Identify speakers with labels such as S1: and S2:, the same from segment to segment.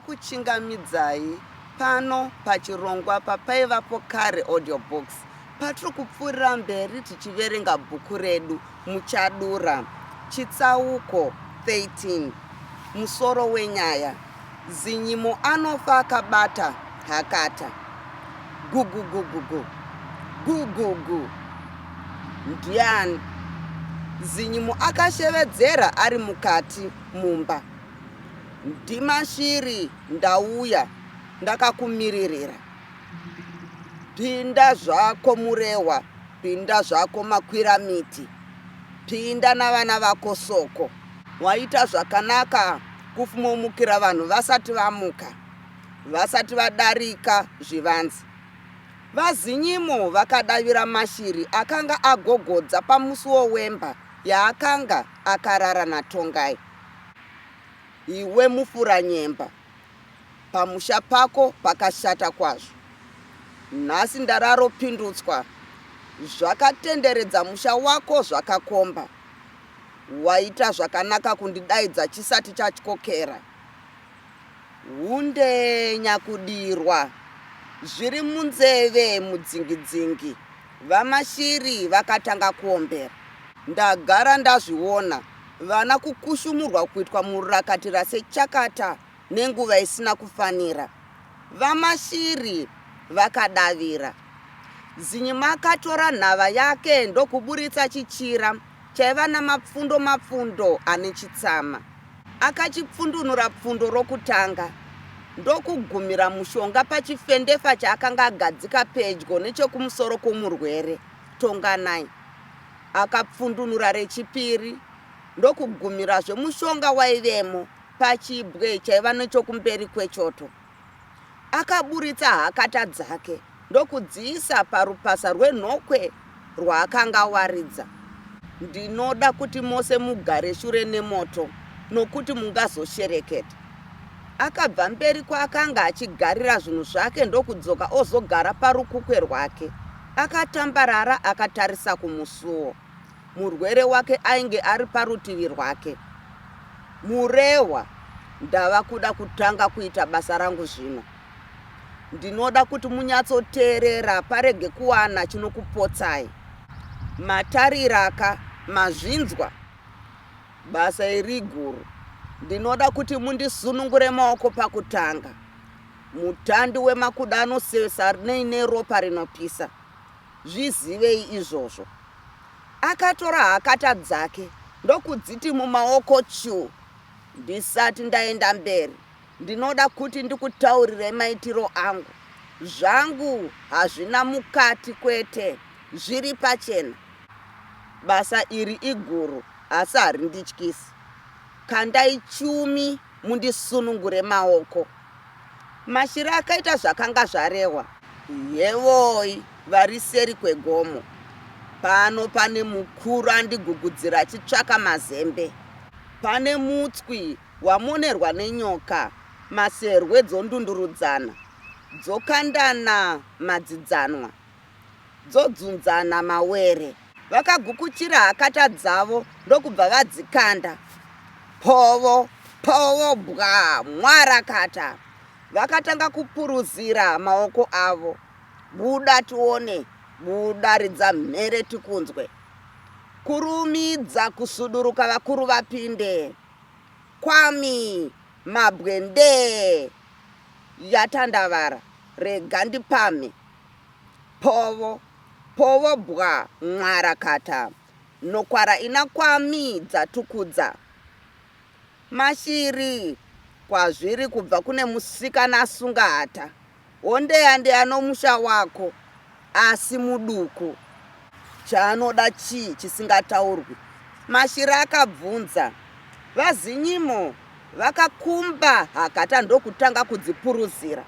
S1: ndinokuchingamidzai pano pachirongwa papaivapo kare audiobox patiri kupfuurira mberi tichiverenga bhuku redu muchadura chitsauko 13 musoro wenyaya Zinyimo anofa akabata hakata. Gugugugugu. Gugugu. Ndiani? Zinyimo akashevedzera ari mukati mumba. Ndimashiri ndauya ndakakumiririra. Pinda zvako Murehwa, pinda zvako Makwiramiti. Pinda navana vako Soko. Waita zvakanaka kufmomukira vanhu vasati vamuka vasati vadarika zvivanze. VaZinyimo vakadavira mashiri akanga agogodza pamusuwo wemba yaakanga akarara naTongai. Iwe mufuranyemba, pamusha pako pakashata kwazvo. Nhasi ndararo pindutswa zvakatenderedza musha wako zvakakomba. Waita zvakanaka kundidaidza chisati chatyokera. Hunde nyakudirwa zviri munzeve mudzingidzingi vaMashiri vakatanga kuombera. Ndagara ndazviona vana kukushumurwa kuitwa murakatira sechakata. nenguva isina kufanira, VaMashiri vakadavira. Zinyima akatora nhava yake ndokuburitsa chichira chaiva namapfundo mapfundo ane chitsama. Akachipfundunura pfundo rokutanga ndokugumira mushonga pachifendefa chaakanga agadzika pedyo nechekumusoro kwomurwere. Tonganai akapfundunura rechipiri ndokugumirazve mushonga waivemo Pachibwe chaiva nechokumberi kwechoto, akaburitsa hakata dzake ndokudziisa parupasa rwenhokwe rwaakanga awaridza. Ndinoda kuti mose mugare shure nemoto nokuti mungazoshereketa. Akabva mberi kwaakanga achigarira zvinhu zvake ndokudzoka ozogara parukukwe rwake. Akatambarara akatarisa kumusuwo. Murwere wake ainge ari parutivi rwake. Murehwa, Ndava kuda kutanga kuita basa rangu zvino. Ndinoda kuti munyatsoteerera parege kuwana chinokupotsai. Matariraka, mazvinzwa? Basa iri iguru. Ndinoda kuti mundisunungure maoko pakutanga. Mutandi wemakuda anosesa nei neropa rinopisa. zvizivei izvozvo. Akatora hakata dzake ndokudziti mumaoko chuu. Ndisati ndaenda mberi ndinoda kuti ndikutaurire maitiro angu. Zvangu hazvina mukati kwete, zviri pachena. Basa iri iguru asi harindityisi. Kandai chumi mundisunungure maoko. Mashira akaita zvakanga zvarehwa. Yevoi vari seri kwegomo. Pano pane mukuru andigugudzira achitsvaka mazembe. Pane mutswi wamonerwa nenyoka. Maserwe dzondundurudzana. Dzokandana madzidzanwa. dzodzunzana mawere. Vakagukuchira hakata dzavo ndokubva vadzikanda. Povo! Povo! Bwa! Mwarakata! Vakatanga kupuruzira maoko avo. Buda tione! Buda! Ridza mhere tikunzwe! Kurumidza kusuduruka vakuru vapinde! Kwami! Mabwe ndee! Yatandavara! Rega ndipamhe! Povo povo bwa mwara kata nokwara ina kwa mi dza tukudza mashiri kwazviri kubva kune musikana asunga hata hondeya ndeya nomusha wako asi muduku. Chaanoda chii chisingataurwi? Mashira akabvunza. VaZinyimo vakakumba hakata ndokutanga kudzipuruzira.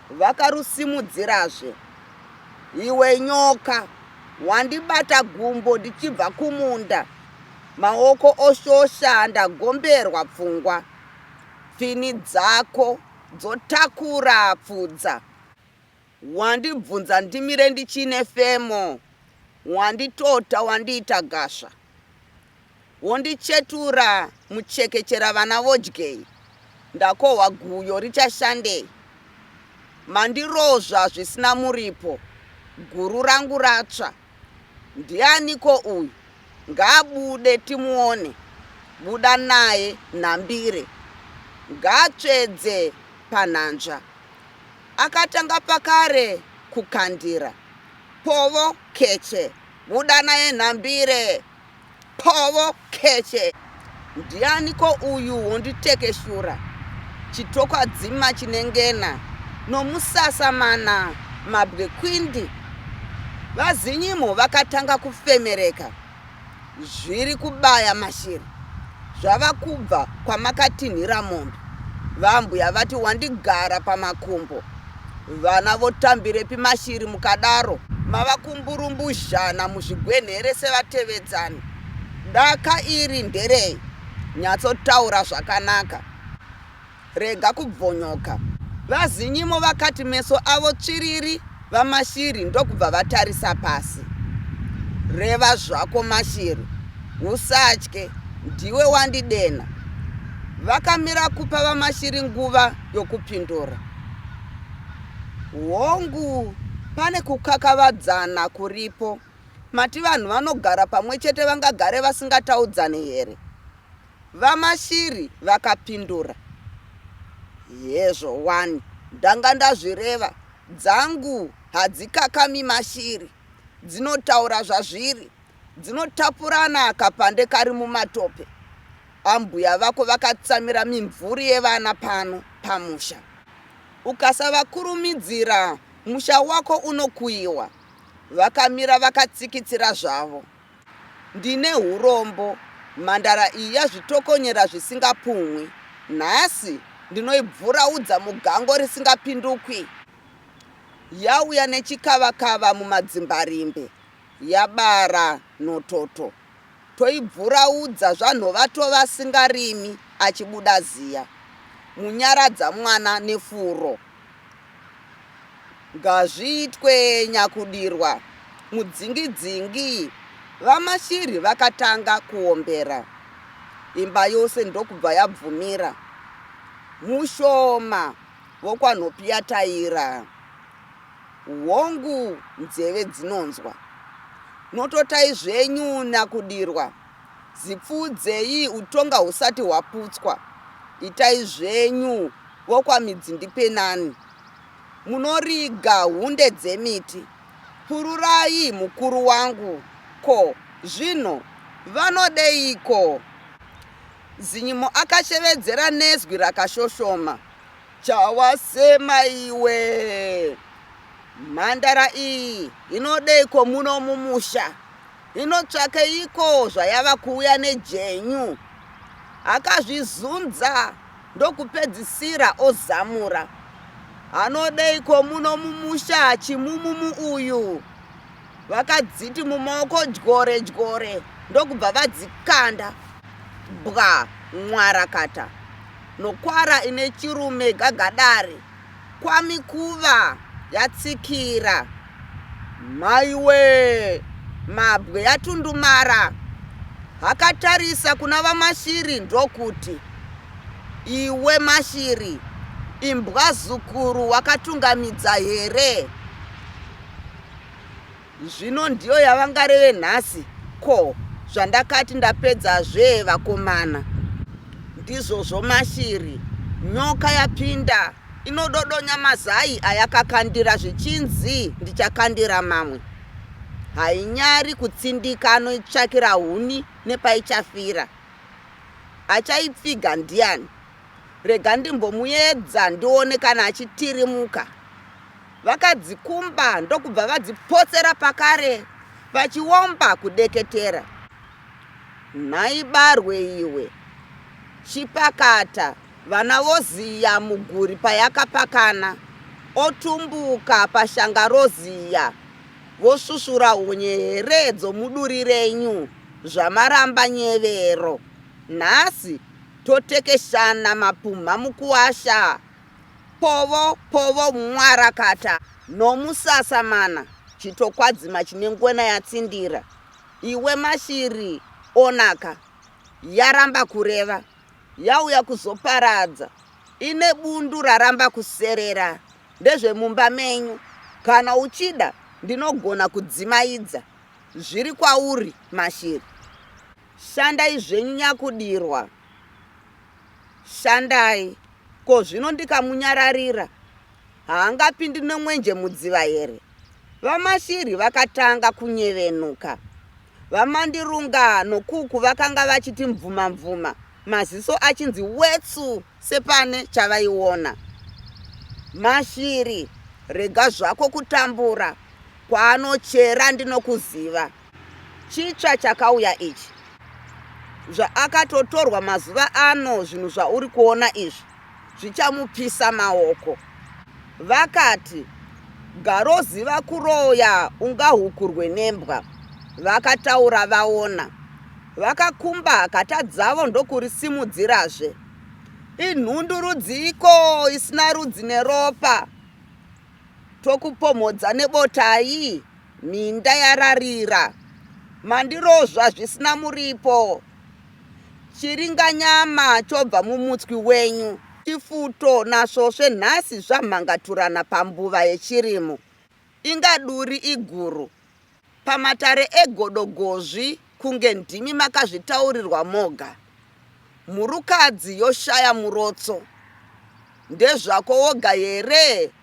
S1: Vakarusimudzirazve. Iwe nyoka, wandibata gumbo ndichibva kumunda. Maoko oshosha ndagomberwa pfungwa. Pfini dzako dzotakura pfudza. Wandibvunza ndimire ndichine femo Wanditota wandiita gasva Wondichetura muchekechera vana vodyei Ndakohwa guyo richashandei Mandirozva zvisina muripo Guru rangu ratsva Ndianiko uyu ngaabude timuone buda naye nhambire ngaatsvedze panhanzva akatanga pakare kukandira povo keche buda naye nhambire Povo keche ndiani ko uyu wonditekeshura chitokwadzima chinengena nomusasa mana mabwe kwindi vazinyimo vakatanga kufemereka zviri kubaya mashiri zvava kubva kwamakatinhira mombe vambuya vati wandigara pamakumbo Vana votambirepi mashiri mukadaro. Mava kumburumbuzhana muzvigwenhere sevatevedzani. Daka iri nderei? Nyatsotaura zvakanaka. Rega kubvonyoka. VaZinyimo vakati meso avo tsviriri vaMashiri ndokubva vatarisa pasi. Reva zvako Mashiri. Usatye. Ndiwe wandidenha. Vakamira kupa vaMashiri nguva yokupindura. Hongu, pane kukakavadzana kuripo. Mati vanhu vanogara pamwe chete vangagare vasingataudzane here? VaMashiri vakapindura. Hezvo wani, ndanga ndazvireva. Dzangu hadzikakami mashiri, dzinotaura zvazviri. Dzinotapurana kapande kari mumatope. Ambuya vako vakatsamira mimvuri yevana pano pamusha. Ukasavakurumidzira musha wako unokuyiwa. Vakamira vakatsikitsira zvavo. Ndine hurombo, mhandara iyi yazvitokonyera zvisingapumhwi. Nhasi ndinoibvuraudza mugango risingapindukwi. Yauya nechikavakava mumadzimbarimbe. yabara nhototo toibvuraudza zvanhovato vasingarimi achibuda ziya munyaradza mwana nefuro ngazviitwe nyakudirwa mudzingi dzingi vamashiri vakatanga kuombera imba yose ndokubva yabvumira mushoma vokwanhopiyataira Hongu nzeve dzinonzwa. Nototai zvenyu nakudirwa. Zipfuudzei utonga husati hwaputswa. Itai zvenyu vokwamidzindipenani. Munoriga hunde dzemiti. Pururai mukuru wangu ko zvino vanodeiko? Zinyimo akashevedzera nezwi rakashoshoma. Chawasema iwe mhandara iyi inodeiko muno mumusha inotsvakeiko zvayava kuuya nejenyu akazvizunza ndokupedzisira ozamura anodeiko muno mumusha chimumumu uyu vakadziti mumaoko dyore dyore ndokubva vadzikanda bwa mwarakata nokwara ine chirume gagadare kwamikuva yatsikira maiwe mabwe yatundumara akatarisa kuna vamashiri ndokuti iwe mashiri imbwa zukuru wakatungamidza here zvino ndiyo yavangareve nhasi ko zvandakati ndapedza zvee vakomana ndizvozvo mashiri nyoka yapinda inododonya mazai ayakakandira zvichinzi ndichakandira mamwe hainyari kutsindika anoitsvakira huni nepaichafira achaipfiga ndiani rega ndimbomuedza ndione kana achitirimuka Vakadzikumba ndokubva vadzipotsera pakare vachiomba kudeketera. Nhai barwe iwe, chipakata vana voziya muguri payakapakana otumbuka pashanga roziya vosvusvura hunye here dzomuduri renyu zvamaramba nyevero nhasi totekeshana mapumha mukuwasha Povo povo mwarakata nomusasa mana chitokwadzima chine ngwena yatsindira iwe mashiri onaka yaramba kureva yauya kuzoparadza ine bundu raramba kuserera ndezvemumba menyu kana uchida ndinogona kudzimaidza zviri kwauri mashiri shandai zvenyu nyakudirwa Shandai. Ko zvino ndikamunyararira haangapindi nomwenje mudziva here? VaMashiri vakatanga kunyevenuka. VaMandirunga noKuku vakanga vachiti mvuma mvuma, maziso achinzi wetsu sepane chavaiona. Mashiri, rega zvako kutambura. Kwaanochera ndinokuziva. Chitsva chakauya ichi. Zvaakatotorwa mazuva ano zvinhu zvauri kuona izvi zvichamupisa maoko. Vakati, Garoziva kuroya ungahukurwe nembwa. Vakataura vaona. Vakakumba hakata dzavo ndokurisimudzirazve. Inhundu rudziiko isina rudzi neropa? Tokupomhodza nebotai? Minda yararira, mandirozva zvisina muripo. Chiringanyama chobva mumutswi wenyu. Chifuto nasvosve nhasi zvamhangaturana pambuva yechirimo. Inga duri iguru. Pamatare egodo gozvi kunge ndimi makazvitaurirwa moga. Mhurukadzi yoshaya murotso. Ndezvako woga here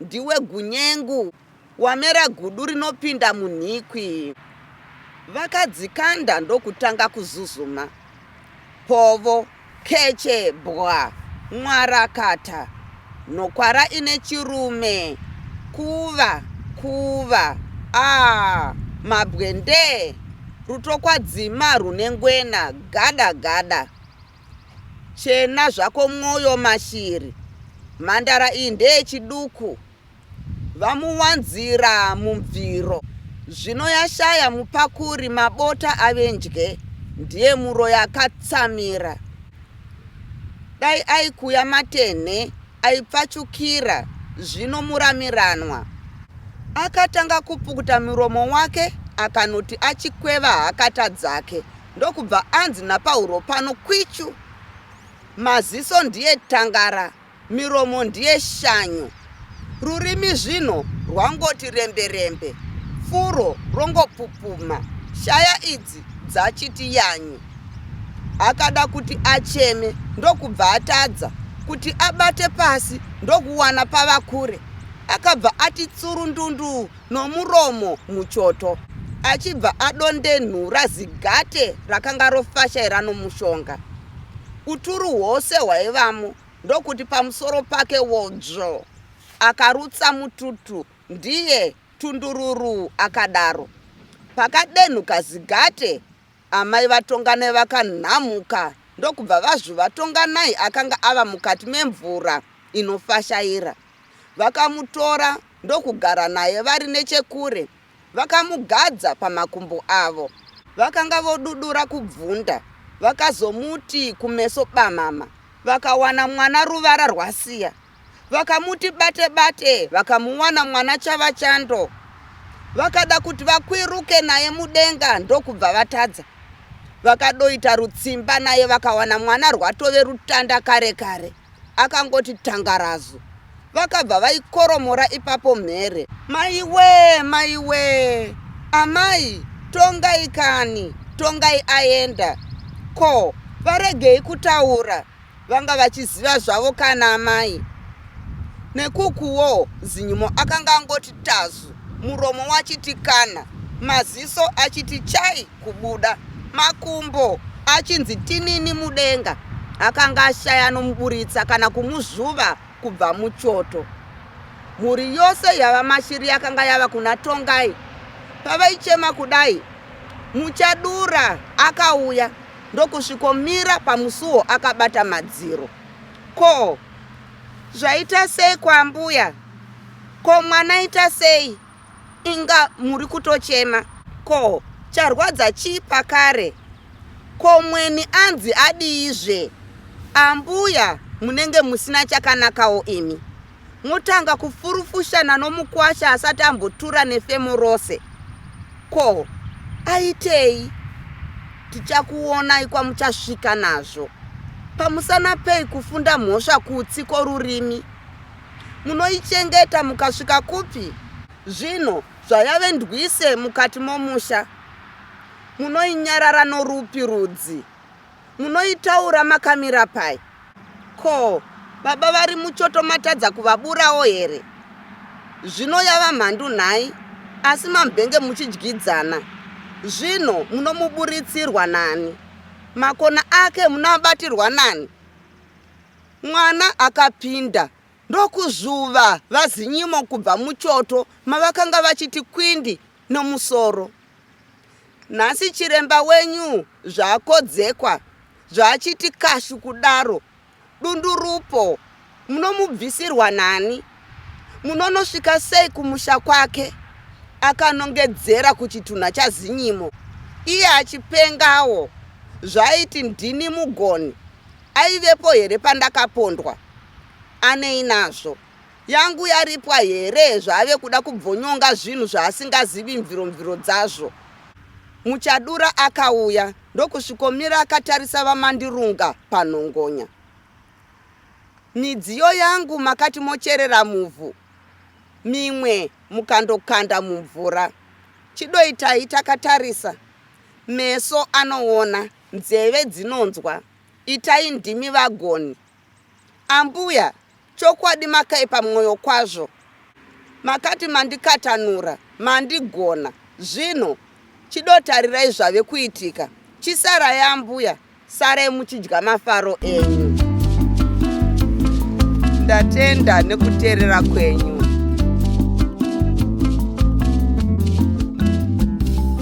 S1: Ndiwe gunyengu, wamera gudu rinopinda munhikwi. Vakadzikanda ndokutanga kuzuzuma. Povo, keche, bwa, mwarakata, nhokwara ine chirume, kuva, kuva, aa, mabwendee, rutokwadzima rune ngwena, gada, gada. Chena zvako mwoyo mashiri. Mhandara iyi ndeyechiduku vamuwanzira mubviro zvino yashaya mupakuri mabota ave ndye ndiye muroyi akatsamira dai aikuya matenhe aipfachukira zvino muramiranwa akatanga kupukuta muromo wake akanoti achikweva hakata dzake Ndokubva anzi naPauro pano kwichu, Maziso ndiye tangara, miromo ndiye shanyo. Rurimi zvino rwangoti rembe-rembe, furo rongopupuma, shaya idzi dzachiti yanyu. Akada kuti acheme ndokubva atadza kuti abate pasi ndokuwana pava kure. Akabva ati tsuru ndundu nomuromo muchoto achibva adondenhura zigate rakanga rofashaira nomushonga uturu hwose hwaivamo ndokuti pamusoro pake wodzvo akarutsa mututu ndiye tundururu akadaro pakadenhuka zigate amai vatonganai vakanhamuka ndokubva vazvu vatonganai akanga ava mukati memvura inofashaira vakamutora Ndokugara naye vari nechekure, vakamugadza pamakumbo avo. Vakanga vodudura kubvunda, vakazomuti kumeso bamama, vakawana mwana ruvara rwasiya. Vakamuti bate bate, vakamuwana mwana chava chando. Vakada kuti vakwiruke naye mudenga ndokubva vatadza. Vakadoita rutsimba naye vakawana mwana rwatove rutanda kare kare. akangoti tangarazu vakabva vaikoromora ipapo mhere maiwee maiwee amai tongai kani tongai aenda ko varegei kutaura vanga vachiziva zvavo kana amai nekukuwo zinyumo akanga angoti tazu muromo wachiti kana maziso achiti chai kubuda makumbo achinzi tinini mudenga akanga ashaya anomuburitsa kana kumuzvuva kubva muchoto mhuri yose yava mashiri yakanga yava kuna tongai pavaichema kudai muchadura akauya ndokusvikomira pamusuwo akabata madziro ko zvaita sei kwambuya ko mwana ita sei inga muri kutochema ko charwadza chii pakare ko mweni anzi adiizve ambuya munenge musina chakanakawo imi motanga kufurufushana nomukwasha asati ambotura nefemo rose ko aitei tichakuonai kwamuchasvika nazvo pamusana pei kufunda mhosva kutsi kworurimi Munoichengeta mukasvika kupi? Zvino zvayave ndwise mukati momusha, munoinyarara norupi rudzi? Munoitaura makamira pai? Ko, baba vari muchoto matadza kuvaburawo here? Zvino yava mhandu nhai, asi mambenge muchidyidzana. Zvino munomuburitsirwa nani? Makona ake munoabatirwa nani? Mwana akapinda ndokuzuva vaZinyimo kubva muchoto mavakanga vachiti kwindi nomusoro. Nhasi chiremba wenyu zvakodzekwa zvaachiti kashu kudaro dundurupo munomubvisirwa nani? Munonosvika sei kumusha kwake? akanongedzera kuchitunha chaZinyimo iye achipengawo zvaiti ndini mugoni Aivepo here pandakapondwa? Anei nazvo? Yangu yaripwa here zvaave kuda kubvonyonga zvinhu zvaasingazivi mviro mviro dzazvo? Muchadura akauya ndokusvikomira akatarisa vaMandirunga panhongonya. Midziyo yangu makati mocherera muvhu, mimwe mukandokanda mumvura. Chidoitai takatarisa, meso anoona, nzeve dzinonzwa. Itai ndimi vagoni. Ambuya chokwadi makaipa mwoyo kwazvo. Makati mandikatanura, mandigona. Zvino Chido tarirai zvave kuitika. Chisarai ambuya, sarai muchidya mafaro enyu. Ndatenda nekuteerera kwenyu.